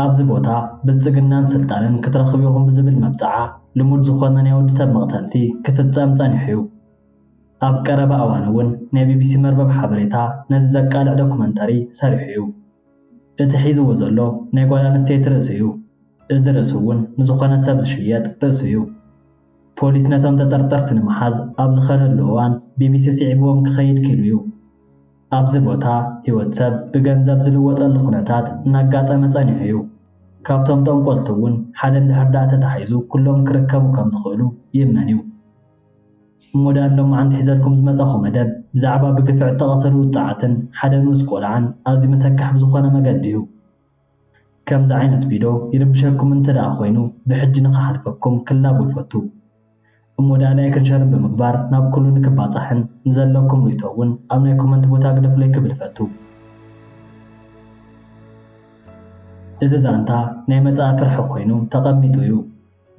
ኣብዚ ቦታ ብልጽግናን ስልጣንን ክትረኽቡ ኢኹም ብዝብል መብጽዓ ልሙድ ዝኾነ ናይ ወዲ ሰብ መቕተልቲ ክፍጸም ጸኒሑ'ዩ። ኣብ ቀረባ እዋን'ውን ናይ ቢቢሲ መርበብ ሓበሬታ ነዚ ዘቃልዕ ዶክመንተሪ ሰሪሑ'ዩ። እቲ ሒዝዎ ዘሎ ናይ ጓል ኣንስተይቲ ርእሲ'ዩ። እዚ ርእሲ'ውን ንዝኾነ ሰብ ዝሽየጥ ርእሲ'ዩ። ፖሊስ ነቶም ተጠርጠርቲ ንምሓዝ ኣብ ዝኸደሉ እዋን ቢቢሲ ስዒብዎም ክኸይድ ክኢሉ'ዩ። ኣብዚ ቦታ ህይወት ሰብ ብገንዘብ ዝልወጠሉ ኩነታት እናጋጠመ ጸኒሑ እዩ። ካብቶም ጠንቆልቲ እውን ሓደ እንድሕር ደኣ ተታሒዙ ኩሎም ክርከቡ ከም ዝኽእሉ ይእመን እዩ። እሞ ደኣ ንሎማዓንቲ ሒዘልኩም ዝመጸኹ መደብ ብዛዕባ ብግፍዒ እተቐተሉ ውጹዓትን ሓደ ንኡስ ቆልዓን ኣዝዩ መሰክሕ ብዝኾነ መገዲ እዩ። ከምዚ ዓይነት ቪዶ ይርብሸኩም እንተ ደኣ ኮይኑ ብሕጂ ንክሓልፈኩም ክላቦ ይፈቱ እሞ ደኣ ላይክን ሸርን ብምግባር ናብ ኩሉ ንክባጻሕን ንዘለኩም ሪቶ እውን ኣብ ናይ ኮመንት ቦታ ግደፉለይ ክብል እፈቱ እዚ ዛንታ ናይ መጻኢ ፍርሒ ኮይኑ ተቐሚጡ እዩ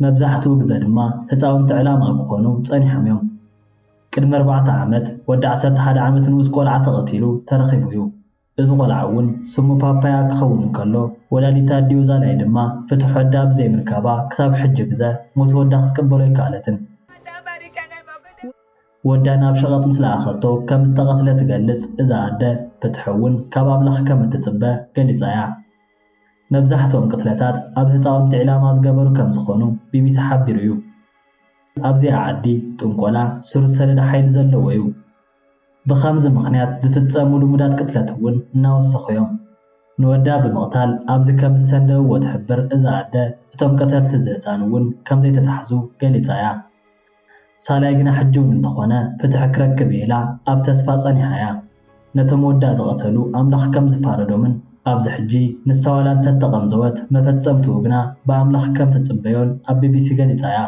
መብዛሕትኡ ግዘ ድማ ህፃውንቲ ዕላማ ክኾኑ ጸኒሖም እዮም ቅድሚ ኣርባዕተ ዓመት ወዲ ዓሰርተ ሓደ ዓመት ንኡስ ቆልዓ ተቐቲሉ ተረኺቡ እዩ እዚ ቆልዓ እውን ስሙ ፓፓያ ክኸውን እንከሎ ወላዲት ኣዲኡ ዛላይ ድማ ፍትሕ ወዳ ብዘይ ምርካባ ክሳብ ሕጂ ግዘ ሞት ወዳ ክትቅበሎ ኣይከኣለትን። ወዳ ናብ ሸቐጥ ምስ ለኣኸቶ ከም ዝተቐትለ ትገልጽ እዛ ኣደ፣ ፍትሕ እውን ካብ ኣምላኽ ከም እትጽበ ገሊጻ እያ። መብዛሕትኦም ቅትለታት ኣብ ህጻውንቲ ዒላማ ዝገበሩ ከም ዝኾኑ ቢቢሲ ሓቢሩ እዩ። ኣብዚኣ ዓዲ ጥንቆላ ሱር ዝሰደደ ሓይሊ ዘለዎ እዩ። ብኸምዚ ምኽንያት ዝፍፀሙ ልሙዳት ቅትለት እውን እናወሰኹ እዮም። ንወዳ ብምቕታል ኣብዚ ከም ዝሰንደውዎ ትሕብር እዛ ኣደ፣ እቶም ቀተልቲ እዚ ህፃን እውን ከምዘይተታሕዙ ገሊፃ እያ። ሳላይ ግና ሕጂ እውን እንተኾነ ፍትሒ ክረክብ እየ ኢላ ኣብ ተስፋ ፀኒሓ እያ። ነቶም ወዳ ዝቐተሉ ኣምላኽ ከም ዝፋረዶምን ኣብዚ ሕጂ ንሳ ዋላ እንተተቐንዘወት መፈፀምትኡ ግና ብኣምላኽ ከም ትፅበዮን ኣብ ቢቢሲ ገሊፃ እያ።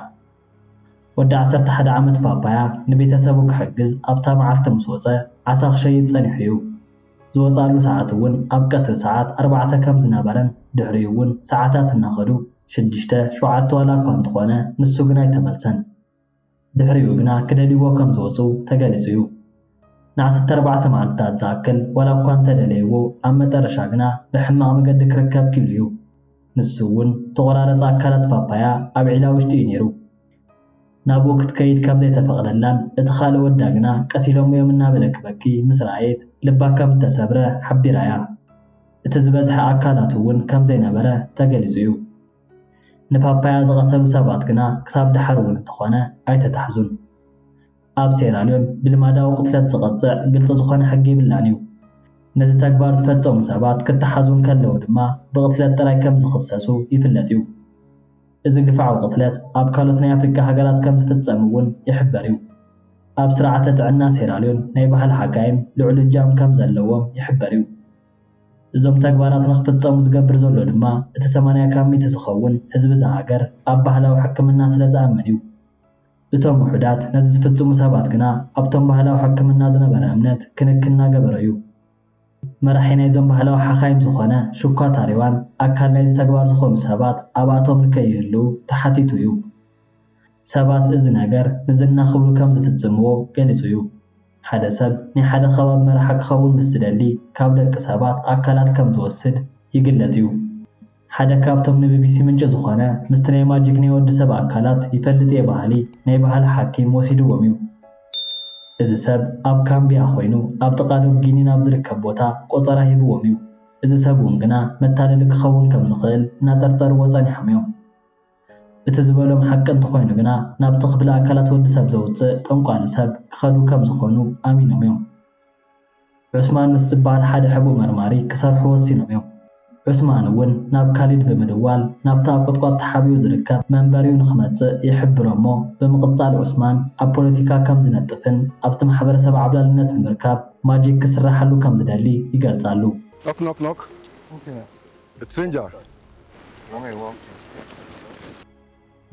ወዲ ዓሰርተ ሓደ ዓመት ፓፓያ ንቤተሰቡ ክሕግዝ ኣብታ መዓልቲ ምስ ወጸ ዓሳ ክሸይጥ ጸኒሑ'ዩ። ዝወጽኣሉ ሰዓት'ውን ኣብ ቀትሪ ሰዓት ኣርባዕተ ከም ዝነበረን ድሕሪኡ'ውን ሰዓታት እናኸዱ ሽዱሽተ፣ ሸውዓተ ዋላ'ኳ እንተኾነ ንሱ ግን ኣይተመልሰን። ድሕሪኡ ግና ክደልይዎ ከም ዝወጹ ተገሊጹ'ዩ። ንዓሰርተ ኣርባዕተ መዓልትታት ዝኣክል ዋላ እኳ እንተ ደለይዎ ኣብ መጠረሻ ግና ብሕማቕ መገዲ ክርከብ ኪኢሉ እዩ። ንሱ እውን እተቖራረጸ ኣካላት ፓፓያ ኣብ ዒላ ውሽጢ እዩ ነይሩ። ናብኡ ክትከይድ ከም ዘይተፈቕደላን እቲ ካልእ ወዳ ግና ቀቲሎሞ እዮም እናበለ ክበኪ ምስ ረኣየት ልባ ከም እተሰብረ ሓቢራ እያ። እቲ ዝበዝሐ ኣካላቱ እውን ከም ዘይነበረ ተገሊጹ እዩ። ንፓፓያ ዝቐተሉ ሰባት ግና ክሳብ ደሓር እውን እንተኾነ ኣይተታሕዙን። ኣብ ሴራልዮን ብልማዳዊ ቅትለት ዝቐጽዕ ግልጺ ዝኾነ ሕጊ ይብላን እዩ። ነዚ ተግባር ዝፈጸሙ ሰባት ክተሓዙ እንከለዉ ድማ ብቕትለት ጥራይ ከም ዝኽሰሱ ይፍለጥ እዩ። እዚ ግፍዓዊ ቅትለት ኣብ ካልኦት ናይ ኣፍሪቃ ሃገራት ከም ዝፍጸም እውን ይሕበር እዩ። ኣብ ስርዓተ ጥዕና ሴራልዮን ናይ ባህሊ ሓካይም ልዑል እጃም ከም ዘለዎም ይሕበር እዩ። እዞም ተግባራት ንክፍጸሙ ዝገብር ዘሎ ድማ እቲ ሰማንያ ካብ ሚእቲ ዝኸውን ህዝቢ እዛ ሃገር ኣብ ባህላዊ ሕክምና ስለ ዝኣምን እዩ። እቶም ውሑዳት ነዚ ዝፍጽሙ ሰባት ግና ኣብቶም ባህላዊ ሕክምና ዝነበረ እምነት ክንክን እናገበረ'ዩ። መራሒ ናይዞም ባህላዊ ሓኻይም ዝኾነ ሹኳ ታሪዋን ኣካል ናይዚ ተግባር ዝኾኑ ሰባት ኣብኣቶም ንከይህልዉ ተሓቲቱ'ዩ። ሰባት እዚ ነገር ንዝና ክብሉ ከም ዝፍጽምዎ ገሊጹ'ዩ። ሓደ ሰብ ናይ ሓደ ከባቢ መራሒ ክኸውን ምስ ዝደሊ ካብ ደቂ ሰባት ኣካላት ከም ዝወስድ ይግለጽ'ዩ። ሓደ ካብቶም ንቢቢሲ ምንጪ ዝኾነ ምስቲ ናይ ማጂክ ናይ ወዲ ሰብ ኣካላት ይፈልጥ እየ በሃሊ ናይ ባህሊ ሓኪም ወሲድዎም እዩ። እዚ ሰብ ኣብ ካምቢያ ኮይኑ ኣብ ጥቓ ዶብ ጊኒን ኣብ ዝርከብ ቦታ ቆጸራ ሂብዎም እዩ። እዚ ሰብ እውን ግና መታለሊ ክኸውን ከም ዝኽእል እናጠርጠርዎ ጸኒሖም እዮም። እቲ ዝበሎም ሓቂ እንተኾይኑ ግና ናብቲ ክፍሊ ኣካላት ወዲ ሰብ ዘውጽእ ጠንቋሊ ሰብ ክኸዱ ከም ዝኾኑ ኣሚኖም እዮም። ዑስማንስ ዝብሃል ሓደ ሕቡእ መርማሪ ክሰርሑ ወሲኖም እዮም። ዑስማን እውን ናብ ካሊድ ብምድዋል ናብቲ ኣብ ቁጥቋጥ ተሓቢኡ ዝርከብ መንበሪኡ ንኽመጽእ ይሕብሮ እሞ ብምቕጻል ዑስማን ኣብ ፖለቲካ ከም ዝነጥፍን ኣብቲ ማሕበረሰብ ዓብላልነት ንምርካብ ማጂክ ክስራሓሉ ከም ዝደሊ ይገልጻሉ። Knock knock knock It's Sinjar Who may walk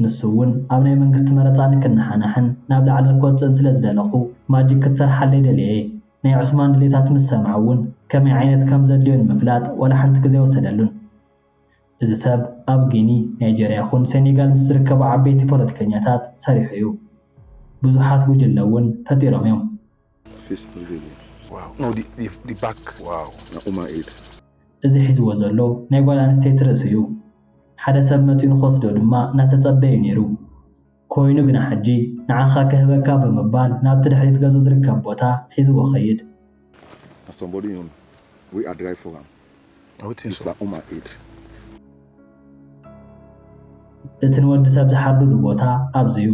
ንሱ'ውን ኣብ ናይ መንግስቲ መረጻ ንክነሓናሕን ናብ ላዕሊ ክወጽእን ስለ ዝደለኹ ማጂክ ክትሰርሓለይ ደልየ'የ። ናይ ዑስማን ድሌታት ምስ ሰምዐ'ውን ከመይ ዓይነት ከም ዘድልዮ ንምፍላጥ ዋላ ሓንቲ ግዜ ኣይወሰደሉን። እዚ ሰብ ኣብ ጊኒ፣ ናይጀርያ ይኹን ሴኔጋል ምስ ዝርከቡ ዓበይቲ ፖለቲከኛታት ሰሪሑ'ዩ። ብዙሓት ጉጅለ'ውን ፈጢሮም'ዮም። ፌስ ሪቪል ዋው ኖ ዲ ባክ ዋው ናኡማ ኤድ እዚ ሒዝዎ ዘሎ ናይ ጓል ኣንስተይቲ ርእሲ እዩ ሓደ ሰብ መጺኡ ንክወስዶ ድማ እናተጸበዩ ኔሩ ኮይኑ ግና ሕጂ ንዓካ ክህበካ ብምባል ናብቲ ድሕሪት ገዝኡ ዝርከብ ቦታ ሒዝዎ ከይድ na somebody you know we are drive for am I would think this so. na Uma Eid እቲ ንወዲ ሰብ ዝሓርዱሉ ቦታ ኣብዚ እዩ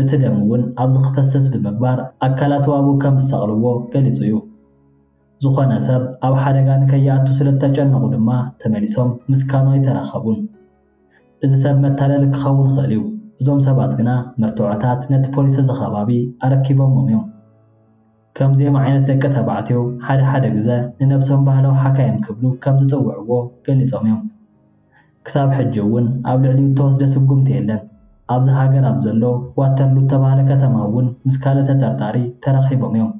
እቲ ደም እውን ኣብዚ ክፈስስ ብምግባር ኣካላቱ ኣብኡ ከም ዝሰቕልዎ ገሊጹ እዩ። ዝኾነ ሰብ ኣብ ሓደጋ ንከይኣቱ ስለ እተጨነቑ ድማ ተመሊሶም ምስ ካኑ ኣይተራኸቡን። እዚ ሰብ መታለሊ ክኸውን ይኽእል እዩ፣ እዞም ሰባት ግና መርትዖታት ነቲ ፖሊስ እዚ ከባቢ ኣረኪቦምዎም እዮም። ከምዚኦም ዓይነት ደቂ ተባዕትዮ ሓደ ሓደ ግዘ ንነብሶም ባህላዊ ሓካይም ክብሉ ከም ዝጽውዕዎ ገሊጾም እዮም። ክሳብ ሕጂ እውን ኣብ ልዕሊኡ እተወስደ ስጉምቲ የለን። ኣብዛ ሃገር ኣብ ዘሎ ዋተርሉ እተባህለ ከተማ እውን ምስ ካልእ ተጠርጣሪ ተራኺቦም እዮም።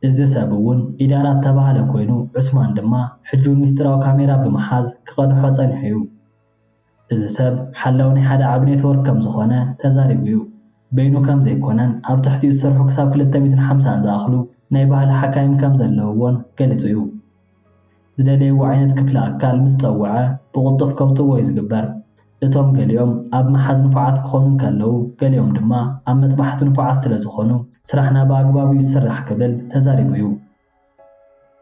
እዚ ሰብ እውን ኢዳራ እተባህለ ኮይኑ ዑስማን ድማ ሕጂ እውን ምስጢራዊ ካሜራ ብምሓዝ ክቐድሖ ጸኒሑ እዩ። እዚ ሰብ ሓላዊ ናይ ሓደ ዓቢ ኔትዎርክ ከም ዝዀነ ተዛሪቡ እዩ። በይኑ ከም ዘይኰነን ኣብ ትሕቲኡ ዝሰርሑ ክሳብ ክልተ ሚእትን ሓምሳን ዝኣኽሉ ናይ ባህሊ ሓካይም ከም ዘለውዎን ገሊጹ እዩ። ዝደለይዎ ዓይነት ክፍሊ ኣካል ምስ ጸውዐ ብቕልጡፍ ከውጽእዎ እዩ ዝግበር። እቶም ገሊኦም ኣብ ምሓዝ ንፉዓት ክዀኑ እንከለዉ ገሊኦም ድማ ኣብ መጥባሕቲ ንፉዓት ስለ ዝዀኑ ስራሕና ብኣግባቡ እዩ ዝስራሕ ክብል ተዛሪቡ እዩ።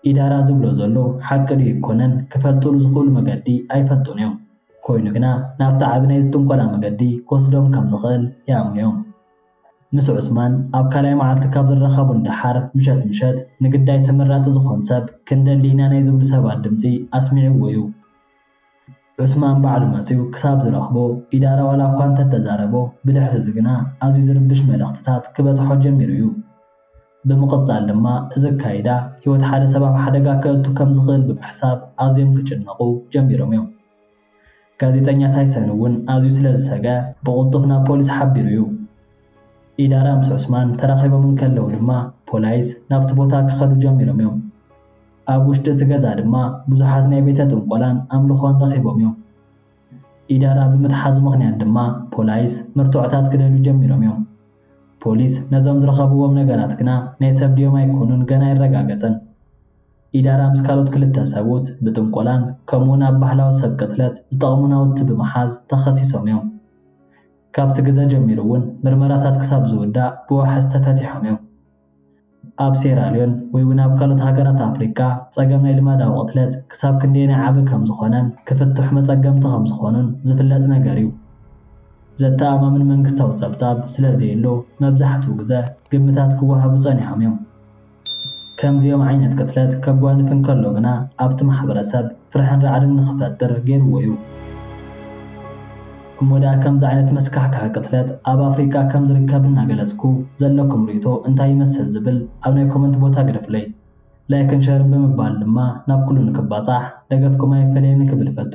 ኢዳራ ዝብሎ ዘሎ ሓቂ ድዩ ኣይኮነን ክፈልጥሉ ዝኽእሉ መገዲ ኣይፈልጡን እዮም። ኮይኑ ግና ናብቲ ዓቢ ናይ ጥንቆላ መገዲ ክወስዶም ከም ዝኽእል ይኣምኑ እዮም። ምስ ዑስማን ኣብ ካልኣይ መዓልቲ ካብ ዝራኸቡ ንደሓር ምሸት ምሸት ንግዳይ ተመራጺ ዝኾን ሰብ ክንደሊ ኢና ናይ ዝብሉ ሰባት ድምጺ ኣስሚዕዎ እዩ። ዑስማን ባዕሉ መጺኡ ክሳብ ዝረኽቦ፣ ኢዳራ ዋላ'ኳ እንተ ተዛረቦ፣ ብድሕሪ'ዚ ግና ኣዝዩ ዝርብሽ መልእኽትታት ክበጽሖ ጀሚሩ'ዩ። ብምቕጻል ድማ እዚ ኣካይዳ፣ ህይወት ሓደ ሰብ ኣብ ሓደጋ ከእቱ ከም ዝኽእል ብምሕሳብ ኣዝዮም ክጭነቑ ጀሚሮም'ዮም። ጋዜጠኛ ታይሰን'ውን ኣዝዩ ስለ ዝሰግኣ፣ ብቕልጡፍ ናብ ፖሊስ ሓቢሩ'ዩ። ኢዳራ ምስ ዑስማን ተራኺቦም እንከለዉ ድማ፣ ፖላይስ ናብቲ ቦታ ክኸዱ ጀሚሮም'ዮም። ኣብ ውሽጢ እቲ ገዛ ድማ ብዙሓት ናይ ቤተ ጥንቆላን ኣምልኾን ረኺቦም እዮም። ኢዳራ ብምትሓዙ ምኽንያት ድማ ፖላይስ መርትዖታት ክደልዩ ጀሚሮም እዮም። ፖሊስ ነዞም ዝረኸብዎም ነገራት ግና ናይ ሰብ ድዮም ኣይኮኑን ገና ኣይረጋገጸን። ኢዳራ ምስ ካልኦት ክልተ ሰብኡት ብጥንቆላን ከምኡውን ኣብ ባህላዊ ሰብ ቅትለት ዝጠቕሙ ናውቲ ብምሓዝ ተኸሲሶም እዮም። ካብቲ ግዘ ጀሚሩ እውን ምርመራታት ክሳብ ዝውዳእ ብዋሕስ ተፈቲሖም እዮም። ኣብ ሴራልዮን ወይ'ውን ኣብ ካልኦት ሃገራት ኣፍሪቃ ጸገም ናይ ልማዳዊ ቅትለት ክሳብ ክንደየናይ ዓቢ ከም ዝኾነን ክፍትሑ መጸገምቲ ከም ዝኾኑን ዝፍለጥ ነገር እዩ። ዘተኣማምን መንግስታዊ ጸብጻብ ስለ ዘየሎ መብዛሕትኡ ግዘ ግምታት ክወሃቡ ጸኒሖም እዮም። ከምዚኦም ዓይነት ቅትለት ከጓንፍ እንከሎ ግና ኣብቲ ማሕበረሰብ ፍርሕን ራዕድን ንኽፈጥር ገይርዎ እዩ። እሞ ድኣ ከምዚ ዓይነት መስካሕካሒ ቅትለት ኣብ ኣፍሪቃ ከም ዝርከብ እናገለጽኩ ዘለኩም ርእይቶ እንታይ ይመስል ዝብል ኣብ ናይ ኮመንት ቦታ ግደፉለይ። ላይክን ሸርን ብምባል ድማ ናብ ኩሉ ንክባጻሕ ደገፍኩም ኣይፈለየኒ ክብል እፈቱ።